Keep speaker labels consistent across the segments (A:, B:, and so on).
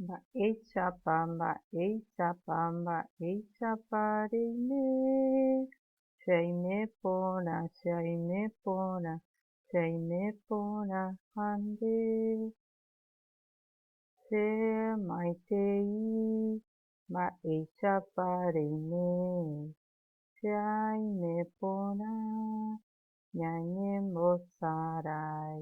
A: Mba'éichapa, mba'éichapa, mba'éichapa reime, che aime porã, che aime porã, che aime porã ha nde, che maitei, mba'éichapa reime, che aime porã, ñañembosarái.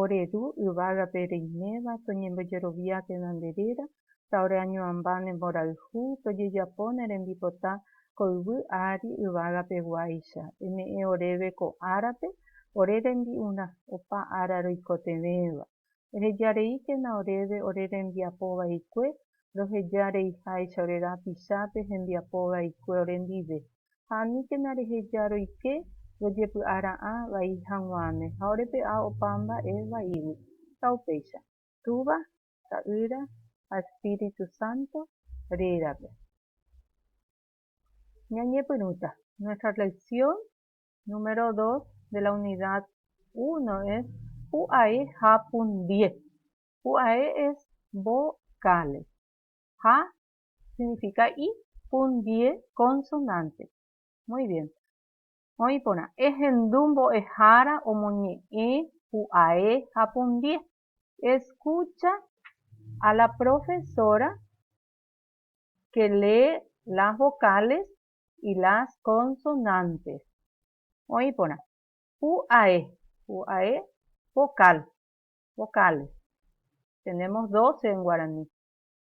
A: Ore ru yvágape reiméva toñembojerovia tenonde réra, ta ore añoamba ne mborayhu tojejapo ne rembipota ko yvy ári yvágape guáicha. Eme'ẽ oréve ko árape ore rembi'urã, opa ára roikotevẽva. Eheja rei térã oréve ore rembiapo vaikue, roheja reiháicha ore rapicha pe hembiapo vaikue ore ndive. ha aníkena reheja roike rojepy'a ra'ã vai hag̃uáme ha orepe'a opa mba'e vaígui. Ha upéicha. Túva, Ta'ýra ha Espíritu Santo rérape ñañepyrũta. Nuestra lección número dos de la unidad uno es pu'ae ha pundie. Pu'ae es vocales ha Signifika i pundie konsonánte. Muy bien. Oĩ porã, ehendu mbo'ehára omoñe'ẽ pu'ae ha pundie. Escucha a la profesora que lee las vocales y las consonantes. Oĩ porã, pu'ae, pu'ae vocal, vocales. Tenemos doce en guaraní.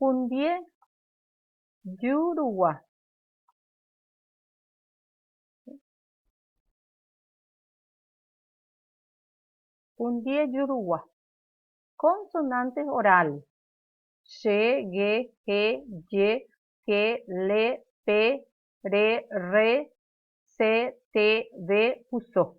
A: Hundie jurugua. Hundie jurugua. Consonantes orales. She, ge, he, ye, ke, le, pe, re, rre, se, te, ve, puso.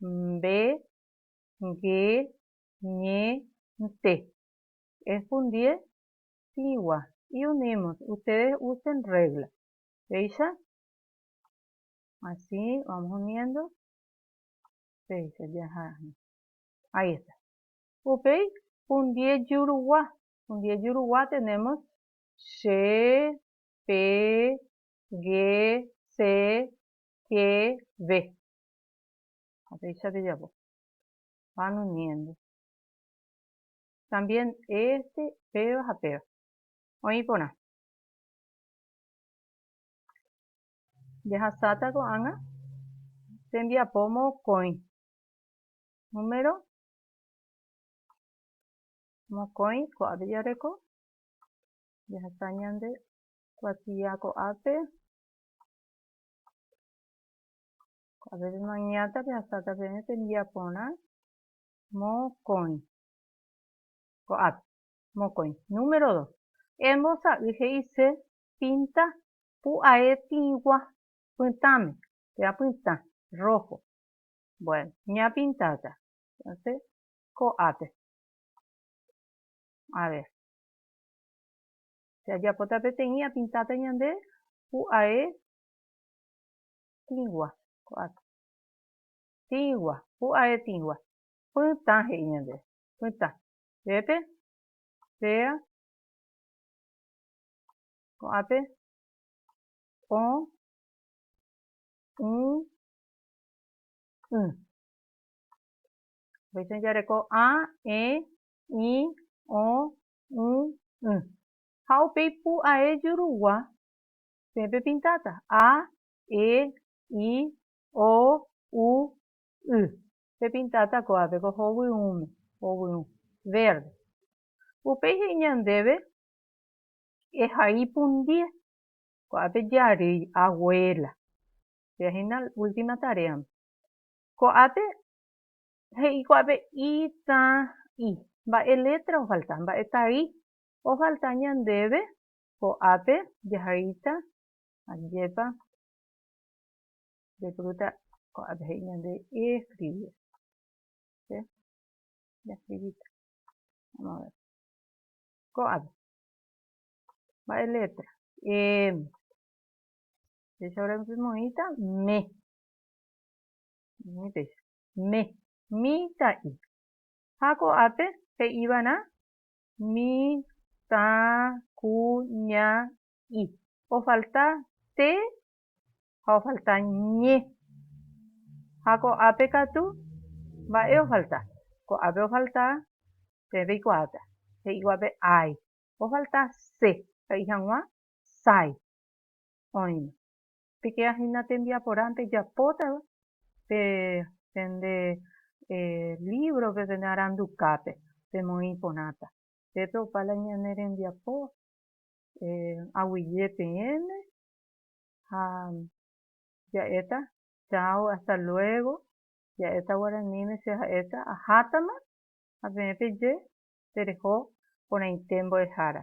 A: mbe, nge, ñe, nte. Ehpundie tĩgua, y unimos, ustedes usen regla. Péicha, así vamos uniendo, péicha jaha, ahí está. Upéi hundie jurugua, hundie jurugua tenemos che, pe, ge, se, ke, ve. ha péicha pejapo ha no miénte también este péva ha péva oĩ porã jahasáta ko'ág̃a tembiapo mokõi número mokõi ko'ápe jareko jahasa ñande kuatia ko'ápe Avésma oñe'ãta pehasáta peẽ tembiaporã mokõi ko'ápe. Mokõi. Número dos, embosa'y he'ise pinta pu'ae tĩgua pytãme, pe apytã, rojo. Bueno, ñapintáta entonces ko'ápe. A ver, si ajapóta peteĩ apintáta ñande pu'ae Tĩgua, ko'ág̃a. Tĩgua, pu'ae tĩgua. Pytã he'i ñandéve, pytã. Pépe, péa, ko'ápe, põ, ũ, ỹ. Upéicha ojareko a, e, i, o, u, y. Ha upéi pu'ae jurugua Peẽ pepintáta, A, E, I, O, U, Y. Pepintáta kóvape ko hovyũme, hovyũ, verde. Upéi he'i ñandéve, Ehai pundie, ko'ápe jarýi, abuela. Péa hína última taréame. Ko'ápe, he'i ko'ápe I, Tã, I. Mba'e létra ofalta, mba'e tai ofalta ñandéve Ko'ápe jahaíta, ajépa nde fruta ko'ápe he'i ñande ieskrivi. Che jaskrivita. Vamos a ver. Ko'ápe. Mba'e letra. M. Péicha ore moĩta me. Moĩ péicha. Me. Mita'i. Ha ko'ápe he'iva'erã mi, tã, ku, ña, i. Ofalta te ha ofalta ñe. Ha ko'ápe katu, mba'e ofalta? Ko'ápe ofalta peẽ peikuaáta, he'íguape ái. Ofalta se, he'i hag̃ua sái. Oĩma. Pikea hína tembiaporãpe japótava pe pende lívrope, pende arandukápe pemoĩ porãta. Upépe opa la ñane rembiapo aguyje peẽme ha ja'éta cháo, hasta luego, ja'éta guaraníme che ha'éta ahátama ha peẽ peje tereho porãite mbo'ehára.